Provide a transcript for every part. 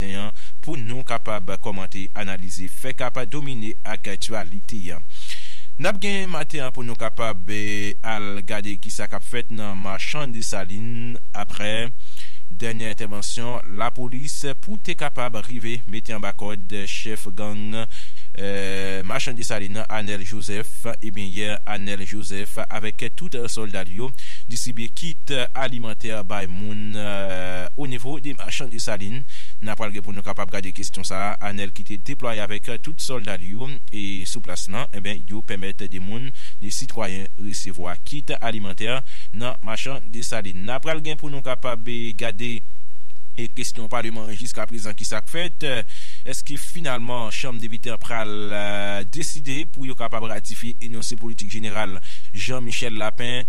maten an pou nou kapab kòmante, analize, fè ka pa domine aktyalite a. N ap gen maten an pou nou kapab al gade ki sa k ap fèt nan Machan Desalin aprè dènyè entèvansyon lapolis pou te kapab rive mete anba kòd chèf gang Machan Desalin nan Anèl Jozèf. Ebyen yè Anèl Jozèf avèk tout sòlda l yo distribye kit alimantè bay moun onivo de Machan Desalin. N apral gen pou nou kapab gade kestyon sa a, Anèl ki te deplwaye avèk tout sòlda li yo e sou plas lan, enben yo pèmèt de moun, de sitwayen resevwa kit alimantè nan machan Desalin. N apral gen pou nou kapab gade kestyon paleman an jiska prezan ki sa k fèt, èske finalman chanm depite an pral deside pou yo kapab ratifye enonse politik jeneral Jean Michel Lapin,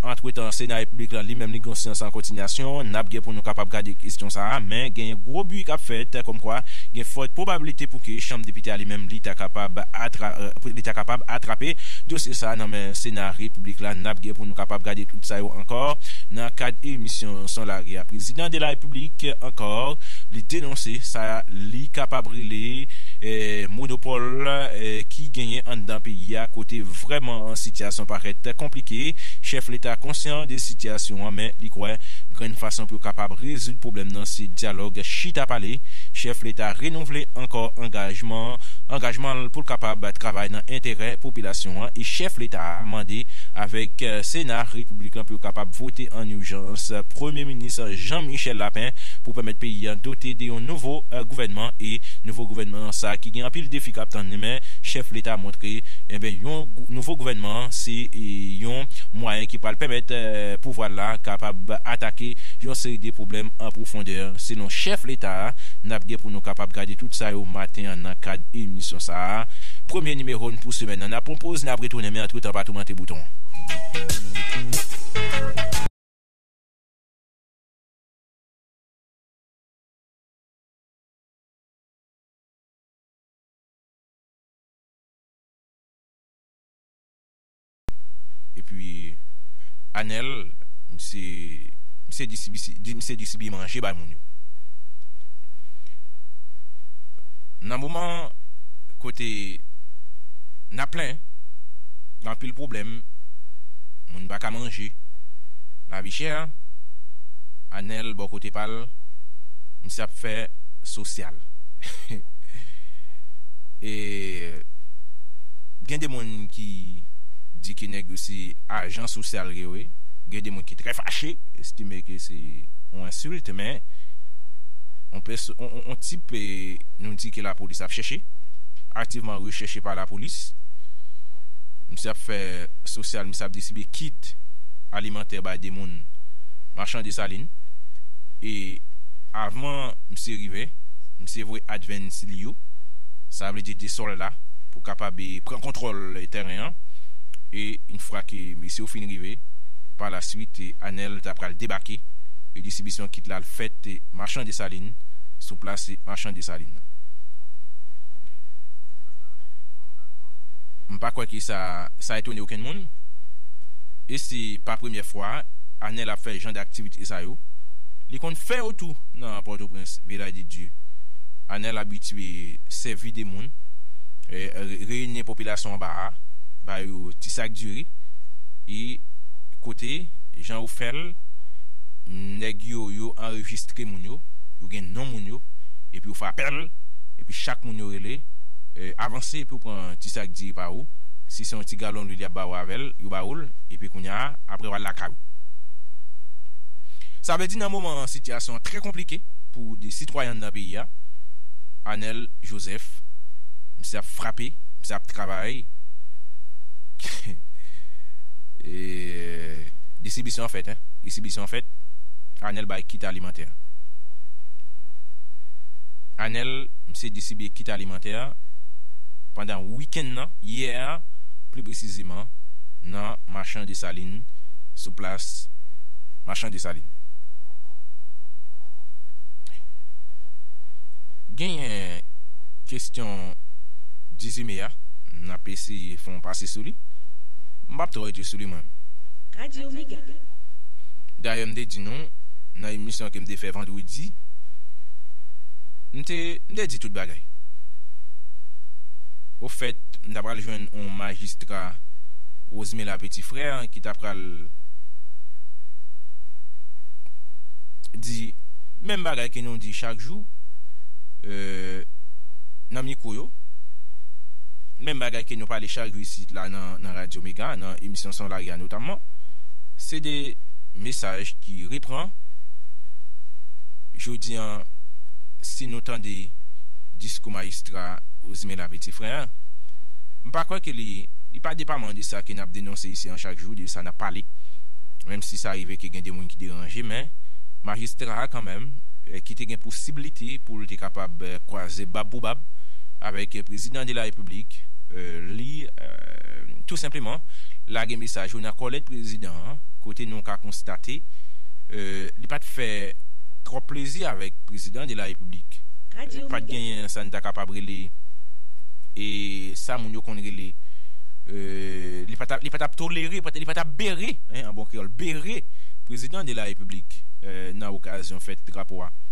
antretan sena repiblik lan li menm li gen yon seyans an kontinyasyon, n ap gen pou Nou kapab gade kesyon sa a, men genyen gwo bri k ap fèt kòmkwa gen fòt pwobablite pou ke Chanm Depite a li menm li ta kapab atra li ta kapab atrape dosye sa a nan men Sena Repiblik la. N ap gen pou nou kapab gade tout sa yo ankò nan kad emisyon Son Lari a. Prezidan de la Repiblik ankò li denonse sa li kapab rele monopòl ki genyen anndan peyi a kote vrèman sitiyasyon parèt konplike. Chèf Leta konsyan de sitiyasyon an men li kwè Grenn fason pou yo kapab rezoud pwoblèm nan se dyalòg, chita pale. Chèf leta renouvle ankò angajman angajman l pou l kapab travay nan enterè popilasyon an e chèf leta a mande avèk sena repiblikan pou yo kapab vote an ijans premye minis Jean Michel Lapin pou pèmèt peyi a dote de yon nouvo gouvènman e nouvo gouvènman an sa ki gen anpil defi kap tann li men chèf leta montre enben yon nouvo gouvènman se yon mwayen ki pral pèmèt pouvwa l la kapab atake yon seri de pwoblèm an pwofondè, selon chèf leta a. N ap gen pou nou kapab gade tout sa yo maten an nan kad emisyon sa a. Premye nimewo n pou semèn nan. N ap pran poz, n ap retounen men antretan pa toumante bouton. Epi Anel misye misye distribi misye distribi manje bay moun yo. Nan moman kote na plen gen anpil pwoblèm moun pa ka manje lavi chè Anel bò kote pal misye ap fè sosyal e gen de moun ki ki di ke nèg yo se ajan sosyal yo ye, gen de moun ki trè fache, estime ke se yon ensilt, men yon tip nou di ke lapolis ap chèche, aktivman rechèche pa lapolis, misye ap fè sosyal, misye ap distribye kit alimantè bay de moun machan desalin, e avan misye rive, misye voye advens li yo, sa vle di de sòlda pou kapab pran. kontwòl tèren an e yn fwa ke mesye yo fin rive pa la swit Anèl ta pral debake e distribisyon kit la al fèt Machan Desalin sou plas Machan Desalin nan. M pa kwè ke sa sa etone okenn moun e se pa premyè fwa Anèl ap fè jan daktivite sa yo, li konn fè yo tou nan Pòtoprens Village de Dieu. Anèl abitye sèvi de moun. reyinyen popilasyon anba a, ba yo ti sak diri, e kote jan yo fè l, nèg yo yo anrejistre moun yo, yo gen non moun yo, epi yo frapè l, epi chak moun yo rele, avanse epi w pran ti sak diri pa ou, si se yon ti galon lwil y ap ba ou avè l, yo ba ou l, epi kounya aprè w al lakay ou. Sa vle di nan moman an sitiyasyon an trè konplike pou de sitwayen anndan peyi a, Anèl Jozèf. Misye ap frape, misye ap travay. Distribisyon an fèt hein. Distribisyon an fèt. Anel bay kit alimantè. Anel misye distribiye kit alimantè pandan wikenn nan, yè a pli presizeman nan Machan Desalin sou plas Machan Desalin. Genyen. Kesyon Dizime a, n ap eseye fè yon pase sou li. M pa p twò rete sou li mwen. Radio Mega. Dayè m te di nou nan emisyon ke m te fè vandredi, m te di tout bagay. Ofèt, m ta pral jwenn yon majistra Rosemela Petit Frère ki ta pral di menm bagay ke nou di chak jou. nan mikwo yo, menm bagay ke nou pale chak jou isit la nan radyo mega, nan emisyon son lari a notamman, se de mesaj ki repran, jodi an si nou tande diskou mayistra Ozime la peti frè an, m pa kwè ke li pa depaman de sa ke nap denonse isi an chak jou, de sa nap pale, menm si sa rive ke gen de moun ki deranje, men majistra a kanmenm ki te gen pou sib li. aksepte pou l te kapab kwaze bab pou bab avèk prezidan de la repiblik, li tou senpleman lage mesaj yo nan kòlèt prezidan an kote nou ka konstate li pa t fè twòp plezi avèk prezidan de la repiblik. Pa t genyen sa n ta kapab rele e sa moun yo konn rele li pa t ap tolere, li pa t ap bere an bon kreyòl, bere prezidan de la repiblik nan okazyon fèt drapo a.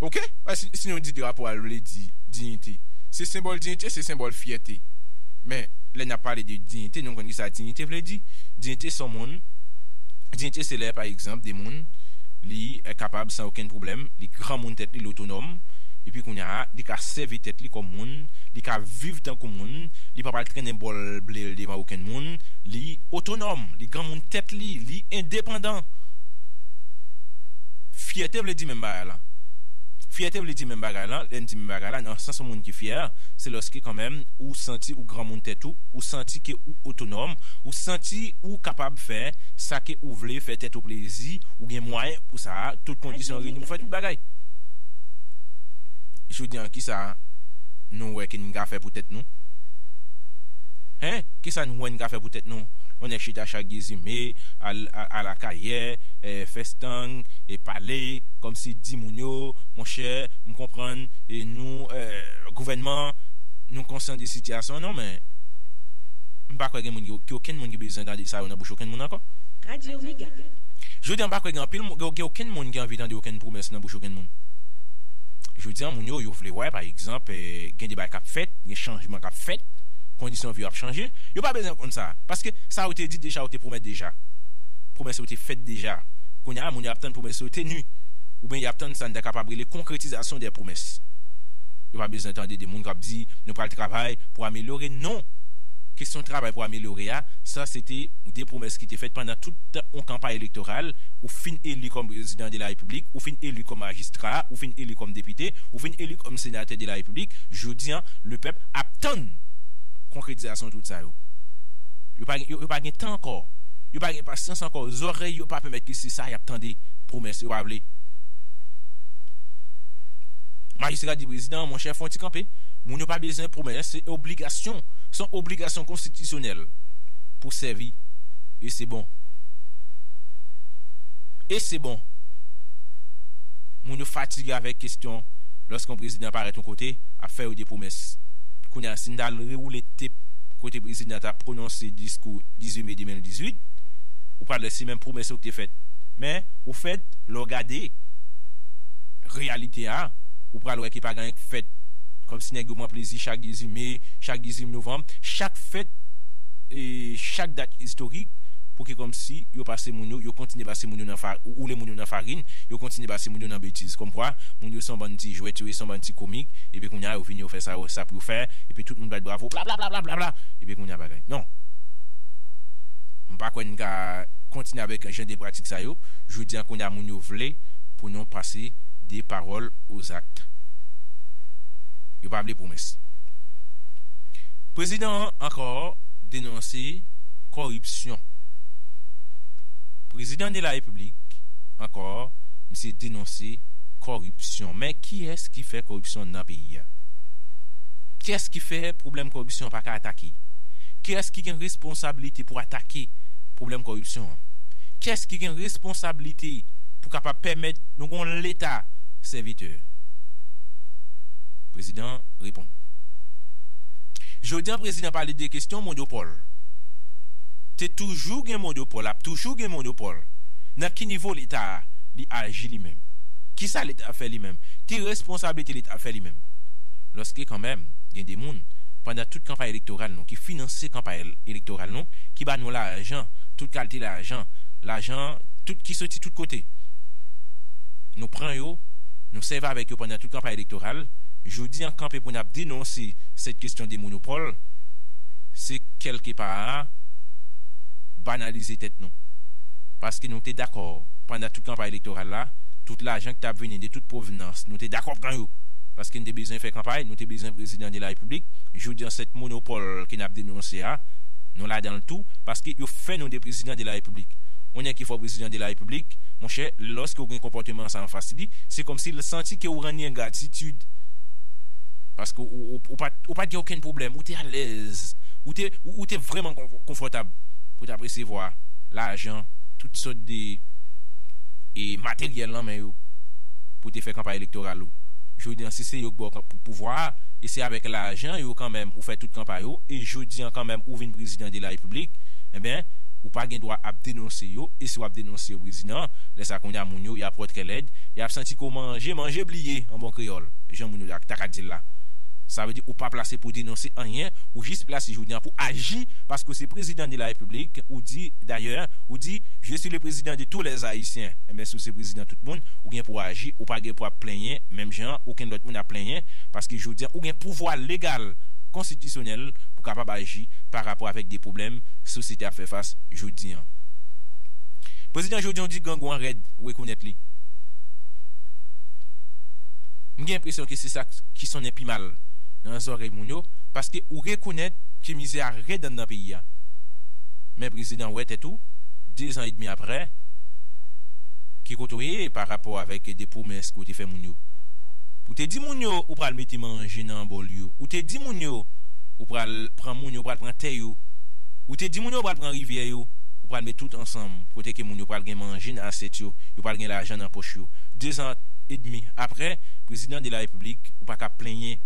Ok si nou di drapo a vle di diyite se senbòl diyite se senbòl fyète men lè nap pale de diyite nou konn kisa diyite vle di diyite son moun diyite se lè pa egzanp de moun li kapab san okenn pwoblèm li granmoun tèt li li otonòm epi kounya li ka sèvi tèt li kòm moun li ka viv tankou moun li pa pral trennen bòl blel devan okenn moun li otonòm li granmoun tèt li li endepandan. Fyète vle di menm bagay lan. Fyète vle di menm bagay lan, lè n di menm bagay la, nan sans yon moun ki fyè, se lòske kanmèm ou santi ou granmoun tèt ou, ou santi ke ou otonòm, ou santi ou kapab fè sa ke ou vle, fè tèt ou plezi, ou gen mwayen pou sa, tout kondisyon reyini pou fè tout bagay. Jodi an ki sa nou wè ke n ka fè pou tèt nou? Hein? Ki sa n wè n ka fè pou tèt nou? On nèg chita chak Dezime, al Akayè, fè. gang e pale kòmsi di moun yo monchè m konprann e nou gouvènman nou konsyan de sitiyasyon an non men m pa kwè gen moun gen okenn moun ki bezwen tande sa yo nan bouch okenn moun ankò. Radio Mega. Jodi an m pa kwè gen anpil moun gen okenn moun ki anvi tande okenn pwomès nan bouch okenn moun. Jodi an moun yo yo vle wè pa egzanp gen de bagay k ap fèt gen chanjman k ap fèt kondisyon vi yo ap chanje yo pa bezwen konn sa paske sa yo te di deja yo te pwomèt deja pwomès yo te fèt deja. Kounye a, moun yo ap tann pwomès yo tenu, oubyen y ap tann sa n ta kapab rele konkretizasyon dè pwomès. Yo pa bezwen tande de moun k ap di, Nou pral travay pou amelyore. Non! Kesyon travay pou amelyore a, sa se te de pwomès ki te fèt pandan tout tan yon kanpay elektoral, ou fin eli kòm prezidan de la repiblik, ou fin eli kòm majistra, ou fin eli kòm depite, ou fin eli kòm senatè de la repiblik, jodi an, lepèp ap tann konkretizasyon tout sa yo. Yo pa gen tan ankò, yo pa gen pasyans ankò. kò zòrèy yo pa pèmèt yo se sa y ap tande pwomès yo pa vle. Majistra di prezidan an monchè fon ti kanpe moun yo pa bezwen pwomès se obligasyon se yon obligasyon konstitisyonèl pou sèvi e se bon e se bon moun yo fatige avèk kestyon lòske yon prezidan parèt yon kote ap fè yo de pwomès kounye a si n ta al rewoule tep kote prezidan ta pwononse diskou 18 me 2018. Ou pa lèsi menm pwomès yo ki te fèt. Men, ou fèt, lè w gade reyalite a, ou pral wè ke pa gen anyen k fèt. Kòmsi nèg yo pran plezi chak 2 zi me, chak 2 zi novanm, chak fèt, chak dat istorik pou ke kòmsi yo pase moun yo, yo kontinye pase moun yo nan fa, woule moun yo nan farin, yo kontinye pase moun yo nan betiz. Kòmkwa, moun yo se yon bann ti jwèt, yo ye se yon bann ti komik, epi kounye a yo vini yo fè sa yo, sa pou yo fè, epi tout moun bat bravo, blablablablabla! Epi kounye a bagay. Non! M pa kwè n ka kontinye avèk jan de pratik sa yo. Jodi a kounye a moun yo vle pou nou pase de pawòl o zak. Yo pa vle pwomès. Prezidan an ankò denonse kòripsyon. Prezidan de la Repiblik ankò misye denonse kòripsyon. Men kiyès ki fè kòripsyon nan peyi a? Kiyès ki fè pwoblèm kòripsyon an pa ka atake? Kiyès ki gen responsabilite? responsabilite pou atake pwoblèm kòripsyon an? Kiyès ki gen responsabilite pou kapab pèmèt nou gen yon Leta sèvitè? Prezidan an reponn. Jodi an prezidan pale de kesyon monopòl. Te toujou gen monopòl, ap toujou gen monopòl. Nan ki nivo Leta a li aji li menm? Kisa Leta a fè li menm? Ki responsabilite Leta a fè li menm? Lòske kanmèm gen de moun pandan tout kanpay elektoral nou ki finanse kanpay elektoral nou ki ba nou lajan, tout kalte lajan, lajan tout ki soti tout kote. Nou pran yo, nou sèvi avèk yo pandan tout kanpay elektoral. Jodi an kanpe pou n ap denonse sèt kestyon de monopòl, se kèlke pa a banalize tèt nou. Paske nou te dakò pandan tout kanpay elektoral la, tout lajan ki t ap vini de tout pwovenans, nou te dakò pran yo. Paske n te bezwen fè kanpay, nou te bezwen prezidan de la repiblik. Jodi an sèt monopòl pèp ke nap denonse a, nou ladan l tou, paske yo fè nou de prezidan de la repiblik. Yon nèg ki fè w prezidan de la repiblik, monchè, lòske w gen konpòteman sa anfas li, se kòmsi l santi ke w rann li engratitid. Paske ou pat, ou pat gen okenn pwoblèm, ou te alèz, ou te, ou te vrèman konfòtab pou w tap resevwa lajan, tout sòt de e materyèl nan men yo, pou w te fè kanpay elektoral ou. Jodi an, si se yo k ba w pou pouvwa a, e se avèk lajan yo kanmèm, ou fè tout kanpay ou e jodi an kanmèm ou vin prezidan de la repiblik enben ou pa gen dwa ap denonse yo e si wap denonse yo prezidan lè sa kounye a moun yo yap ròt kè lèd yap santi ke w manje manje bliye an bon kreyòl jan moun yo ta ka di l la sa vle di ou pa plase pou denonse anyen ou jis plase jodi an pou aji paske w se prezidan de la repiblik ou di dayè ou di je si le prezidan de tou lè ayisyen enben si w se prezidan tout moun ou gen pou aji ou pa gen pou ap plenyen menm jan okenn lòt moun ap plenyen paske jodi an ou gen pouvwa legal konstitisyonèl pou kapab aji pa rapò avèk de pwoblèm sosyete ap fè fas jodi an. Prezidan Joe John di grangou an rèd rekonèt li. M gen enpresyon ke se sa ki sonnen pi mal nan zòrèy moun yo, paske ou rekonèt ke mizè a rèd anndan peyi a. Men prezidan wè tèt ou, dezan edmi aprè, ki kote w ye pa rapò avèk de pwomès ke w te fè moun yo. Ou te di moun yo ou pral mete. mete manje nan bòl yo. Ou te di moun yo, ou pral pran moun yo, ou pral pran tè yo. Ou te di moun yo, ou pral pran rivyè yo, ou pral met tout ansanm, kote ke moun yo pral gen manje nan asyèt yo, yo pral gen lajan nan pòch yo. Dezan edmi apre, Prezidan de la Repiblik, ou pa ka plenyen,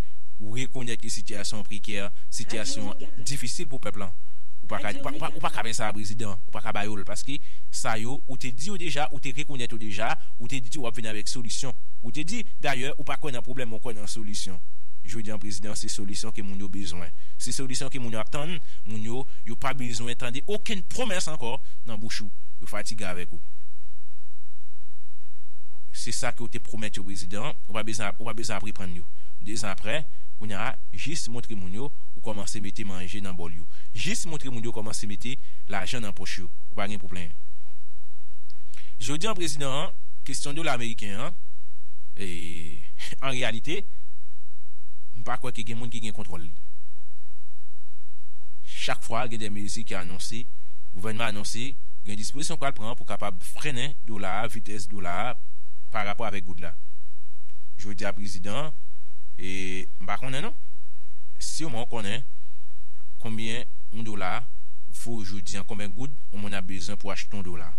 ou rekonèt ke sitiyasyon an prekè, sitiyasyon an difisil pou pèp lan. Ou pa ka, ou pa ka fè sa, Prezidan. Ou pa ka ba yo l, paske sa yo, ou te di yo deja, ou te rekonèt yo deja, ou te di w ap vini avèk solisyon. Ou te di, dayè, ou pa kwè nan pwoblèm. kwè nan solisyon. Jodi an prezidan se solisyon ke moun yo bezwen. Se solisyon ke moun yo ap tann. Moun yo, yo pa bezwen tande okenn pwomès ankò nan bouch ou. Yo fatige avèk ou. Se sa ke ou te pwomèt yo prezidan, ou pa bezwen ap, ou pa bezwen ap reprann yo. 2 zan aprè, kounya a, jis montre moun yo ou kòmanse mete manje nan bòl yo. Jis montre moun yo kòmanse mete lajan nan pòch yo. Ou pa gen pou plenyen. Jodi an prezidan an, kestyon dola ameriken an, e. An reyalite, m pa kwè ke gen moun ki gen kontwòl li. Chak fwa gen de mezi ki anonse, gouvènman an anonse, gen dispozisyon k pral pran pou kapab frennen dola a, vitès dola a pa rapò avèk goud la. Jodi a prezidan, e m pa konnen non, siman w konnen konbyen yon dola vo jodi a, konbyen goud yon moun ap bezwen pou achte yon dola.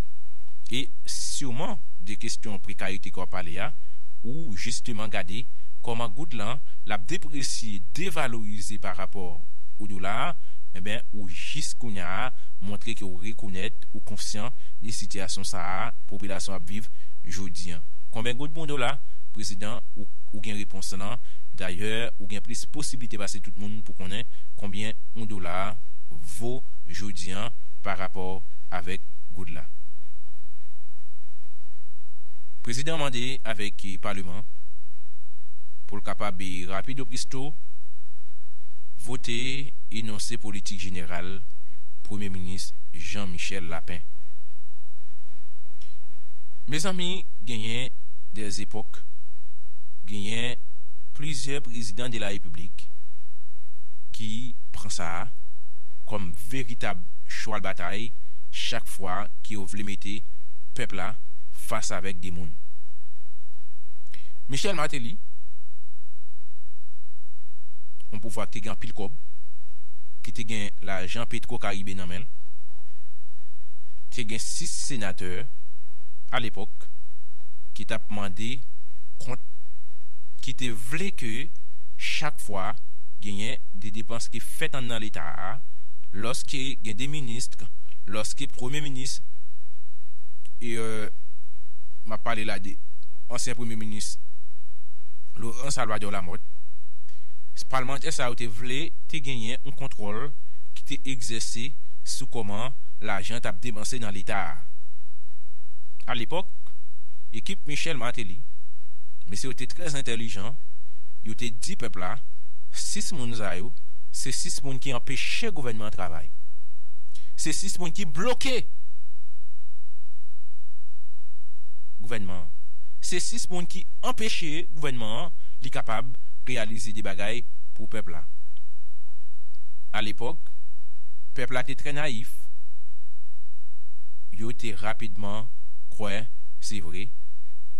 E siman de kesyon prekarite ke w ap pale a, Ou jisteman gade kòman goud lan l ap depresye, devalorize pa rapò o dola a, enben ou jis kounya a montre ke w rekonèt, ou konsyan de sitiyasyon sa a popilasyon an ap viv jodi an. Konben goud pou yon dola? Prezidan, ou ou gen repons lan, dayè ou gen plis posiblite pase tout moun pou konnen konbyen yon dola vo jodi an pa rapò avèk goud la. Prezidan an mande avèk paleman pou l kapab rapido pristo vote enonse politik jeneral premye minis Jean Michel Lapin. Mezanmi genyen dè zepòk genyen plizyè prezidan de la repiblik ki pran sa kòm veritab chwal batay chak fwa ke yo vle mete pèp la fas avèk de moun. Michel Martelly, yon pouvwa ki te gen anpil kòb, ki te gen lajan Petro Caribe nan men l, te gen 6 senatè a lepòk ki t ap mande kont, ki te vle ke chak fwa genyen de depans ki fèt anndan leta a, lòske gen de ministr, lòske premye minis, E m ap pale la de ansyen premye minis Laurent Salvador Lamothe. Palmantè sa yo te vle te genyen yon kontwòl ki te egzèse sou kòman lajan t ap depanse nan Leta a. A lepòk, ekip Michel Martelly, mesye yo te trè entèlijan, yo te di pèp la, 6 moun sa yo, se 6 moun ki anpeche gouvènman an travay. Se 6 moun ki bloke! Gouvènman an. Se 6 moun ki anpeche gouvènman an li kapab reyalize de bagay pou pèp la. Alepòk, pèp la te trè nayif, yo te rapidman kwè se vre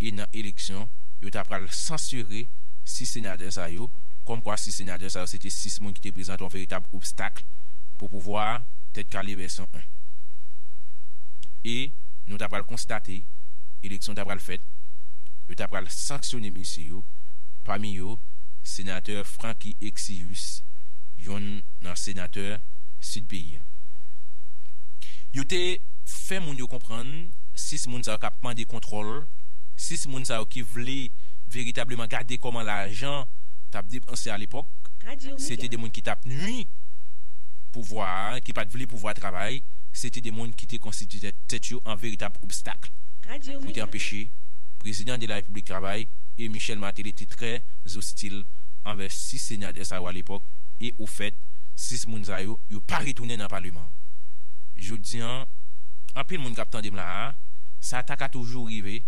e nan eleksyon yo ta pral sansire 6 senatè sa yo, kòmkwa 6 senatè sa yo se te 6 moun ki te prezante yon veritab obstakl pou pouvwa Tèt Kale vèsyon 1. e nou ta pral konstate eleksyon ta pral fèt, yo ta pral sanksyone mesye yo, pami yo senatè Francky Exius, yonn nan senatè Sid peyi an. Yo te fè moun yo konprann 6 moun sa yo k ap mande kontwòl, 6 moun sa yo ki vle veritableman gade kòman lajan t ap depanse alepòk, se te de moun ki t ap nui pouvwa a, ki pa t vle pouvwa a travay. se te de moun ki te konstitye tèt yo an veritab obstak pou te anpeche Prezidan de la Repiblik travay e Michel Martelly te trè zostil anvè 6 senatè sa yo alepòk e ofèt 6 moun sa yo, yo pa retounen nan paleman an. Jodi an, anpil moun k ap tande m la a, sa ta ka toujou rive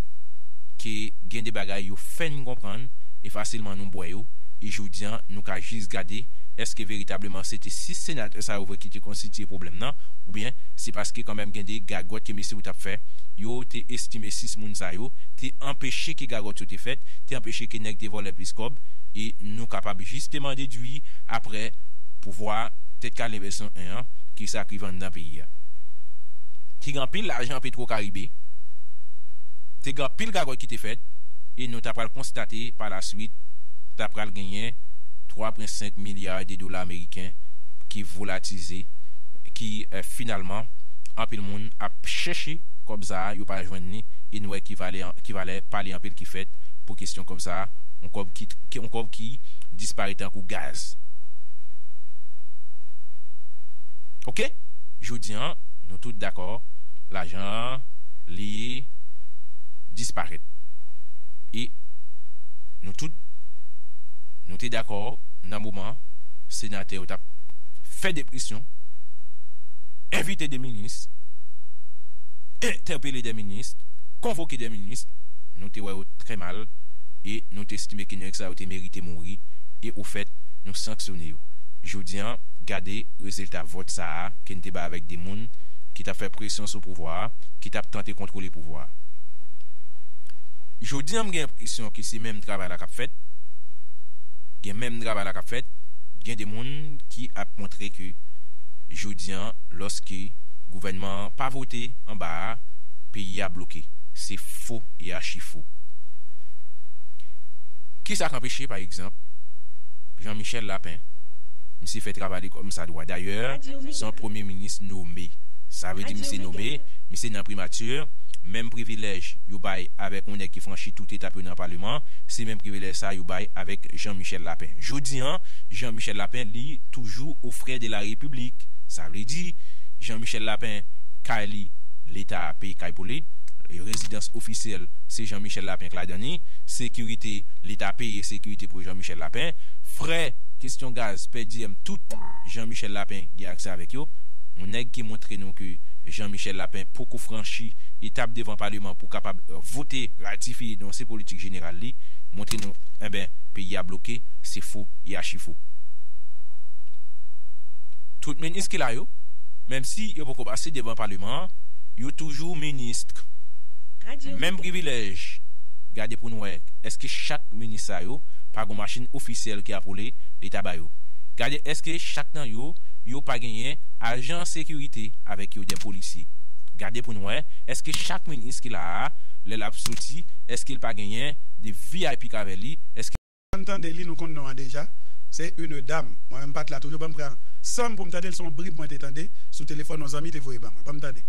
ke gen de bagay yo fè n konprann e fasilman nou bwè yo e jodi an nou ka jis gade èske veritableman se te 6 senatè sa yo vre ki te konstitye pwoblèm nan oubyen se paske kanmenm gen de gagòt ke mesye ou tap fè yo te estime 6 moun sa yo te anpeche ke gagòt yo te fèt, te anpeche ke nèg te vòlè plis kòb e nou kapab jisteman dedwi aprè pouvwa tèt kale vèsyon 1 an ki sa ki vann nan peyi a. Te gen anpil lajan petwo karibe, te gen anpil gagòt ki te fèt e nou ta pral konstate pa la swit ta pral genyen 3 pwen 5 milya de dola ameriken ki volatize. ki finalman anpil moun ap chèche kòb sa a yo pa jwenn li e nou wè ki valè pale anpil ki fèt pou kesyon kòb sa a yon kòb ki yon kòb ki disparè tankou gaz ok jodi an nou tout dakò lajan an li disparèt e nou tout nou te dakò nan moman senatè yo t ap. fè depresyon, envite de minis, entèpele de minis, konvoke de minis, nou te wè yo trè mal e nou te estime ke nèg sa yo te merite mouri e ofèt nou sanksyone yo. Jodi an, gade rezilta vòt sa a ke n te bay avèk de moun ki t ap fè presyon sou pouvwa a, ki t ap tante kontwole pouvwa a. Jodi an m gen enpresyon ke se menm travay la k ap fèt, gen menm travay la k ap fèt, gen de moun ki ap montre ke jodi an lòske gouvènman an pa vote anba a, peyi a bloke. Se fo e achi fo. Ki sa k anpeche pa egzanp Jean Michel Lapin? Misye fè travay li kòm sa dwa. Dayè, se yon premye minis nome. Sa vle di misye nome, misye nan primati, menm privilèj yo bay avèk yon nèg ki franchi tout etap yo nan paleman, se menm privilèj sa a yo bay avèk Jean Michel Lapin. Jodi an, Jean Michel Lapin li toujou aux frais de la République sa vle di Jean Michel Lapin kay li leta peye kay pou li rezidans ofisyèl se Jean Michel Lapin k ladan ni sekirite leta peye sekirite pou Jean Michel Lapin frè kestyon gaz pè diyèm tout Jean Michel Lapin gen aksè avèk yo yon nèg ki montre nou ke Jean Michel Lapin poko franchi etap devan paleman pou kapab vote ratifiye denonse politik jeneral li montre nou enben peyi a bloke. ak fo e achifo. Tout minis ki la yo, menm si yo poko pase devan paleman an, yo toujou ministk. Menm privilèj, gade pou n wè èske chak minis sa yo pa gon machin ofisyèl ki ap woule leta ba yo. Gade èske chak nan yo, yo pa genyen ajan sekirite avèk yo dè polisye. Gade pou n wè èske chak minis ki la a, lè l ap soti èske l pa genyen de vip k avè li, èske. Ann tande li nou konn non an deja se une dame mwen menm pat la toujou banm pran sanm poum tandel son brib mwen te tande sou telefòn yon zanmi te voye ban mwen banm tande.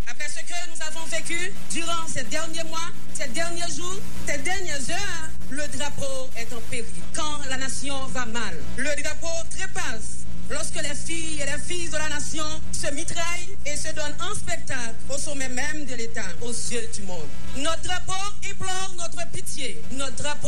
Après ce que nous avons vécu durant ces derniers mois, ces derniers jours, ces dernières heures, le drapeau est en péril. Quand la nation va mal, le drapeau trépasse. Lorsque les filles et les fils de la nation se mitraillent et se donnent en spectacle au sommet même de l'État, aux yeux du monde. Notre drapeau implore notre pitié, notre drapeau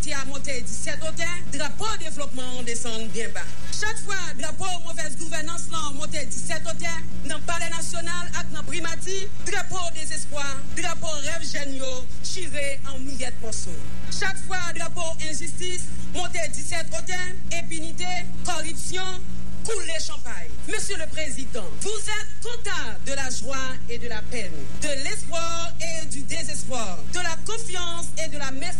Ti a monte di sèt otè, drapo devlopman an desann byen ba. Chak fwa drapo movèz gouvènans lan monte di sèt otè, nan palè nasyonal ak nan primati, drapo dezespwa, drapo rèv jèn yo chire an miyèt mòso. Chak fwa drapo enjistis monte di sèt otè, enpinite, kòripsyon, koule chanpay. Mesye le Prezidan, vous êtes comptable de la joie et de la peine, de l'espoir et du désespoir, de la confiance et de la méfiance.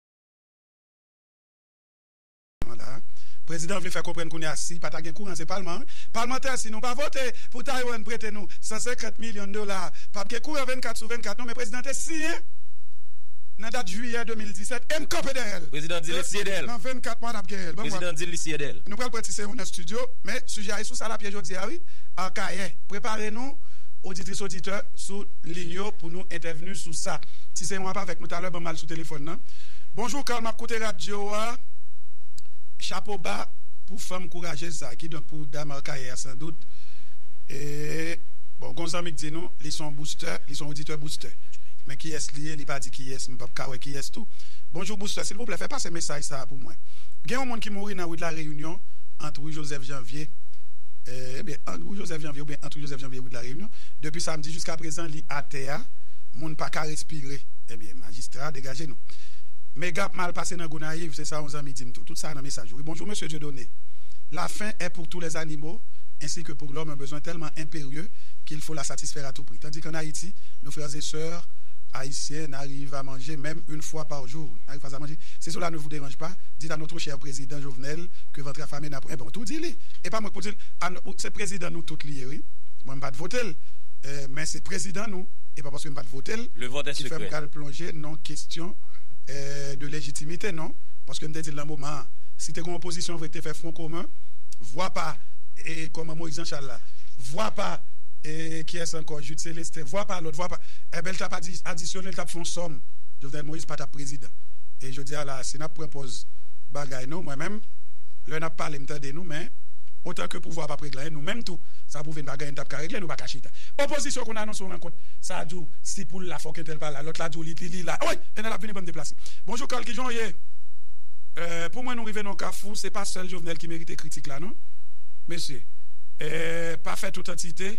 Prezidan an vle fè konprann kounye a si pa ta gen kouran se palman an. Palmantè si nou pa vote pou Taiwan prete nou 150 milyon dola pap gen kouran 24 sou 24 non men prezidan te siyen nan dat jiyè 2017 em kanpe dèyè l Prezidan di li siye dèyè l Nan 24 mwa lap gen l Prezidan di li siye dèyè l. Nou pral pran ti seyon nan studio men sijè a e sou sa lap ye jodi a wi Akayè prepare nou oditris oditè sou lin yo pou nou entèvni sou sa ti seyon ap avèk nou talè banm al sou tele. fòn nan. Bonjour Carl map koute radyo a chapo ba pou fanm kourajez sa ki donk pou dam arcaye a san dout bon gon zanmi k di nou li son boustè li son oditè boustè men kiyès li ye li pa di kiyès m pap ka wè kiyès tou bonjour boustè silvouplè fè pase mesaj sa pou mwen gen yon moun ki mouri nan rue de la réunion ant rue Joseph Janvier ebyen ant rue Joseph Janvier oubyen ant rue Joseph Janvier et rue de la réunion depi samedi jiska prezan li atè a moun paka respire ebyen. Jistra degaje nou. Mega ap mal pase nan Gonayiv se sa yon zanmi di m tou. Tout sa nan mesaj ou wi. Bonjour Mesye Dieudonné. La fin est pour tous les animaux ainsi que pour l'homme un besoin tellement impérieux qu'il faut la satisfaire à tout prix. Tandis qu'en Haïti, nos frères et sœurs Haïtiens n'arrivent à manger même une fois par jour. N'arrivent pas à manger. Si cela ne vous dérange pas, dites à notre cher Président Jovenel que ventre affamé n'a point. Eh ben ou tou di li. E pa mwen ki pou di l. A n Se Prezidan nou tout li ye wi. Mwen m pa t vote l. Men se Prezidan nou. E pa paske m pa t vote l. fè m pral plonje nan kestyon de lejitimite non, paske m te di l nan moman an, si te gen opozisyon vre ki te fè fwon komen, vwa pa kòman Moyiz Janchal la, vwa pa kiyès ankò Jid Selestin, vwa pa lòt, vwa pa, enben l t ap adisyone, l t ap fè yon sòm, Jovenel Moïse pa t ap prezidan. E jodi a la a, si n ap pran pòz bagay nou, mwen menm, lè n ap pale m tande nou, men otan ke pouvwa a pa p regle anyen, nou menm tou sa pwouve n pa gen anyen n t ap ka regle, nou pa ka chita. Opozisyon konn anonse yon rankont sa a di w si. Poul la fòk entèl pa la lòt la diw li li la woy entèl ap vini bann deplase. Bonjou Carl kijan w ye euh pou mwen nou rive nan yon kafou se pa sèl Jovenel ki merite kritik la non mesye euh pa fè tout antite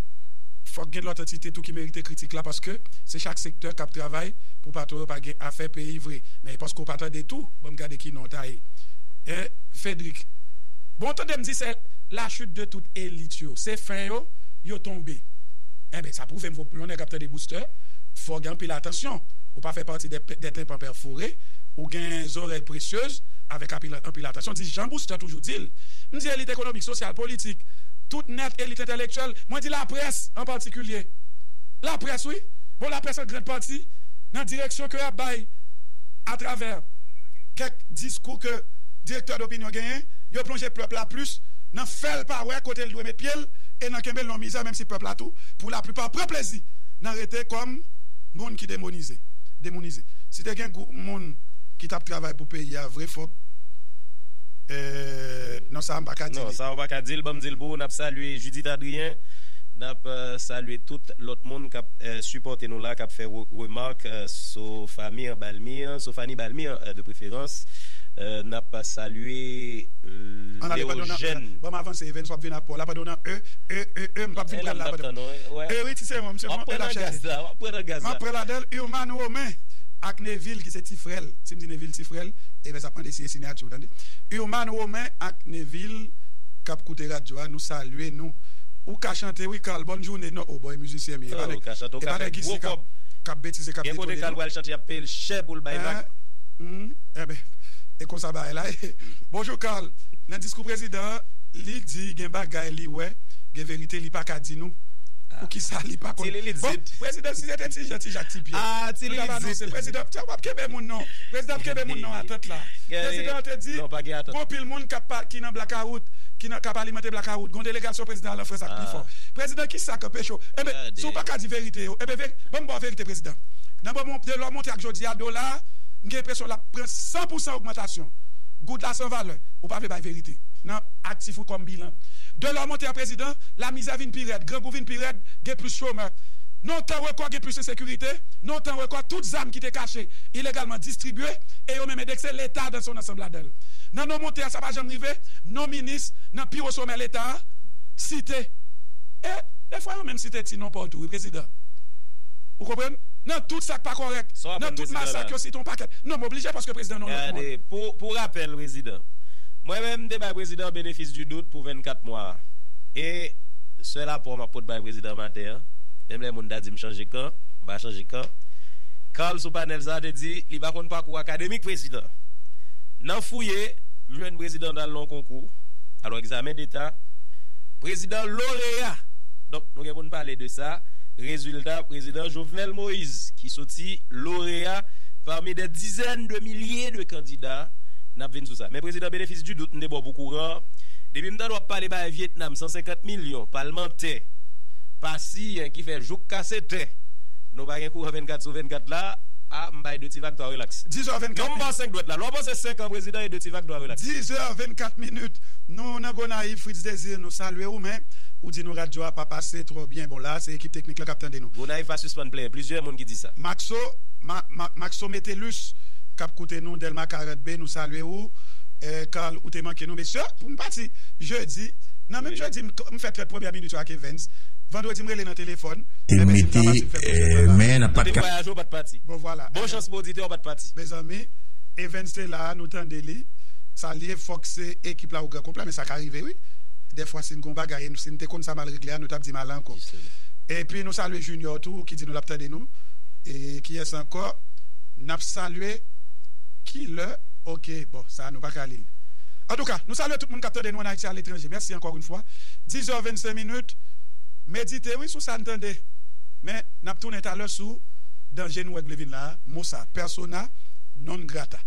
fòk gen lòt antite tou ki merite kritik la paske se chak sektè kap travay pou patron yo pa gen afè peyi vre men paske w pa tande tou banm gade ki non w ta ye euh Fedrick bon tande m di se la chute de tout elit yo se fen yo yo tonbe enben sa pwouve m yon nèg ap tande. Booster, fò w gen anpil atansyon ou pa fè pati dè tenpan pèfore, ou gen zorèy presyez avèk anpil atansyon, di jan Booster toujou di l. M di elit ekonomik, sosyal, politik tout nèt, elit entèlektyèl, mwen di laprès an patikilye. Laprès wi! Bon laprès an grand pati nan direksyon ke y ap bay atravè kèk diskou ke direktè dopinyon genyen, yo plonje pèp la plis nan fè l pa wè kote l dwe met pye l e nan kenbe l nan mizè menm si pèp la tou pou laplipa pran plezi nan rete kòm moun ki demonize, demounize. Si te gen gwoup moun ki t ap travay pou peyi a vre fòk eehh non sa a m pa ka di li. Non sa a ou pa ka di l ban m di l pou ou n ap salye Judith Adrien n ap salye tout lòt moun k ap sipòte nou la k ap fè remak sou fami an Balmy an sou Fanny Balmy an de preferans n ap salye Léogène. An ale padon nan e ban m avanse Evens w ap vin ak pa w la padon nan e e e e m p ap vin. Map pran la padan E wi ti serum se bon e lap chèche Map pran ladanl Urmane Romain ak Nevil ki se ti frèl Sim di Nevil ti frèl Ebyen sa mande siye sinyati ou tande Urmane Romain ak Nevil kap koute radyo a nou salye nou Ou ka chante wi Carl bòn joune non oh bòy mizisyen mi epa nèg epa nèg isi kap betize kap detone nou Humm ebyen e konsa bagay la ye Bonjou Carl nan diskou prezidan an li di gen bagay li wè. Gen verite li paka di nou pou kisa li pa konn bon prezidan si se te ti jan ti jak ti pyè nou tap anonse prezidan tè wap kenbe moun non prezidan ap kenbe moun nan atant la prezidan te di gon pil moun kap pa ki nan blakawout ki nan kap alimante blakawout gon delegasyon prezidan al an frans ak pi fò prezidan kisa ke pecho enben si ou paka di verite yo enben veri banm baw verite prezidan nan moman de lò monte ak jodi a dola m gen enpresyon lap pran san pou san ogmantasyon goud la san valè ou pa vle bay verite nan aktif ou kòm bilan. Delò monte an prezidan, lamizè vin pi rèd, grangou vin pi rèd, gen plis chomè. Nan yon tan rekò gen plis ensekirite, nan yon tan rekò tout zam ki te kache ilegalman distribye e yo menm endekse leta danse yon ansanm ladan l. Nan non monte a sa pa janm rive, non minis nan pi wo somè leta a site e defwa yo menm site ti non pa w tou wi prezidan. Ou konprann? Nan tout sa k pa kòrèk, nan tout masak yo site yon pakèt non m oblije paske prezidan non lòt moun. Pou rapèl prezidan, mwen menm m te bay prezidan benefis. Pu dout pou 24 mwa a. E sèl apò map pot bay prezidan maten an, menm lè moun ta dim chanje kan, mpa chanje kan. Carl sou panèl sa te di li pa konn pakou akademik prezidan. Nan fouye, m jwenn prezidan t al nan yon konkou, al yon egzamen deta, prezidan loreya! Donk nou gen pou n pale de sa, rezilta prezidan Jovenel Moise ki soti loreya pami dè dizèn de milye de kandida, nap vin sou sa. Men prezidan benefis di dout m te baw pou. kouran depi m tande wap pale bay vietnam 150 milyon palmantè pa siyen ki fè jouk kase tè nou pa gen kouran 24 sou 24 la a m bay 2 ti vag 3 relaks non m ba 5 dwèt la lè w panse 5 an prezidan e 2 ti vag 3 relaks. 10 zè 24 minit nou nan gonayiv fritz desir nou salye ou men ou di nou radyo a pa pase twò byen bon la se ekip teknik lan kap tande nou. Gonayiv pa sispann plenyen plizyè moun ki di sa. Maxo Maxo Metellus kap koute nou delma 40 B nou salye ou. Carl ou te manke nou mesye pou m pati jedi nan menm jedi m fè trèt premyè minit yo ak Evens vandredi m rele nan telefòn te mete men nan pat ka. Bon vwala mezanmi Evens te la nou tande li sa li ye fòk se ekip la ou gran konpla men sa ka rive wi dèfwa si n gon bagay si n te konn sa mal regle a nou tap di m ale ankò epi nou salye Junior tou ki di nou lap tande nou e kiyès ankò nap salye kilè. Ok bon sa nou paka lil. Antouka nou salye tout moun kap tande nou an Ayiti a letranje mèsi ankò yn fwa 10 heures 25 minutes medite wi sou sa n tande men nap tounen talè sou danje nou wè k vle vin la a mo sa persona non grata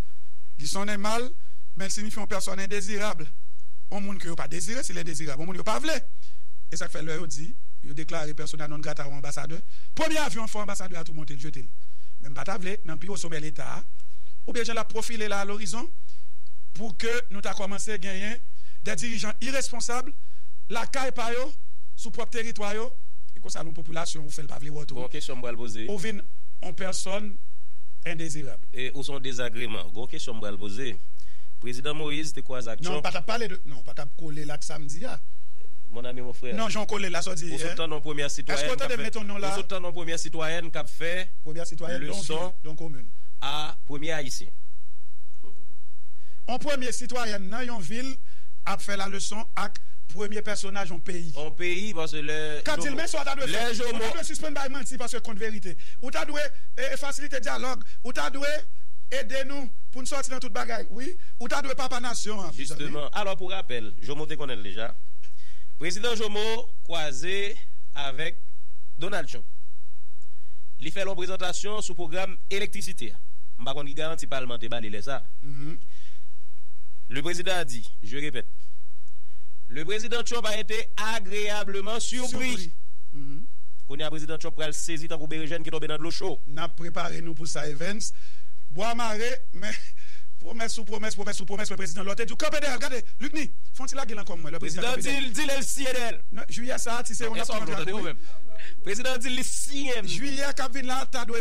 li sonnen mal men l sinifye yon pèsòn endezirab yon moun ke yo pa dezire si l endezirab yon moun yo pa vle e sa k fè lè yo di yo deklare persona non grata yon anbasadè premye avyon an fò anbasadè a tou monte l jete l men m pa ta vle nan pi wo somè leta a oubyen jan l ap pwofile la alorizon, pou ke nou ta kòmanse genyen dè dirijan iresponsab lakay pa yo, sou pwòp teritwa yo. E konsa nou popilasyon ou fè l pa vle wè w tou. Gon kesyon m pral poze. Ou vin on pèsòn endezirab. E ou son dezagreman. Gon kesyon m pral poze. Prezidan Moïse te kwaze ak Trump. Non, ou pa tap pale de, non, ou pa tap kole l ak sa m di a. Mon ami, mon frère. Non, jan w kole l la, sa w di. Ou sot tande on premyè sitwayèn k ap fè. Èske w tande m mete on non la? Ou sot tande on premyè sitwayèn k ap fè. Premyè sitwayèn don vil, don komin. a premye ayisyen. On premye sitwayèn nan yon vil ap fè la leson ak premye pèsonaj on peyi. On peyi paske lè jomo. Kap dil men sa w ta dwe fè. Lè jomo. Ou ta dwe sispann bay manti paske kont verite. Ou ta dwe fasilite dyalòg. Ou ta dwe ede nou pou n sòti nan tout bagay wi. Ou ta dwe papa nasyon an. Jisteman. Alò pou rapèl, jomo te konnen l deja. Prezidan jomo kwaze avèk Donald Trump. Li fè l on prezantasyon sou pwogram Elektrisite a, m pa konn ki garanti palman te ba li lè sa a. Le prezidan a di, je repèt, Le prezidan Trump a ete agreableman surpri. Kounye a prezidan Trump pral sezi tankou berejèn ki tonbe nan dlo cho. N ap prepare nou pou sa Evens. Bwa mare, men pwomès sou pwomès, pwomès sou pwomès lè prezidan lò te di w kanpe dèyè l. Gade, Lucny, fon ti lage l ankò mwen lè prezidan kanpe dèyè l. Prezidan di l, di lè l siyen dèyè l. Jiyè sa a, ti se yo n ap pran nan trak wi. Prezidan di l li siyen l. Jiyè k ap vin la a ta dwe.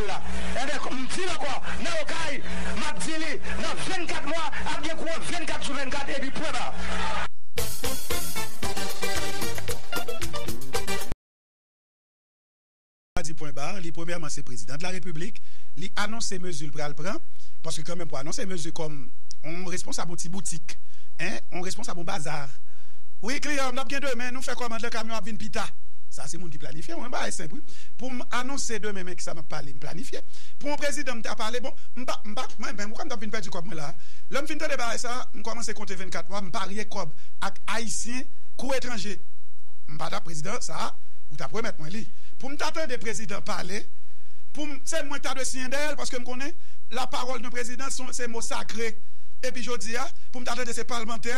Ayiti la. Enben, m di l ankò, nan Okay, m ap di li, nan 24 mwa, ap gen kouran 24 sou 24, epi pwen ba. Sa di pwen ba, li premyèman se prezidan de la repiblik, li anonse mezi l pral pran, paske kanmenm pou anonse mezi kòm yon responsab yon ti boutik, yon responsab yon bazar, wi kliyan yo, n ap gen demen, nou fè kòmand lan, kamyon an ap vin pita. Sa se moun ki planifye, mwen bay senp wi, pou m anonse demen. Nèg sa map pale m planifye pou yon prezidan m ta pale bon m pa m pa mwen menm ou kwè m tap vin pèdi kòb mwen la lèm fin tande bagay sa m kòmanse konte 24 mwa m parye kòb ak ayisyen kou etranje m pa tap prezidan sa ou tap remèt mwen li pou m ta tande prezidan pale pou m se mwen k ta dwe siyen dèyèl paske m konnen la pawòl d'un prezidan son se mo sakre epi jodi a pou m ta tande se palmantè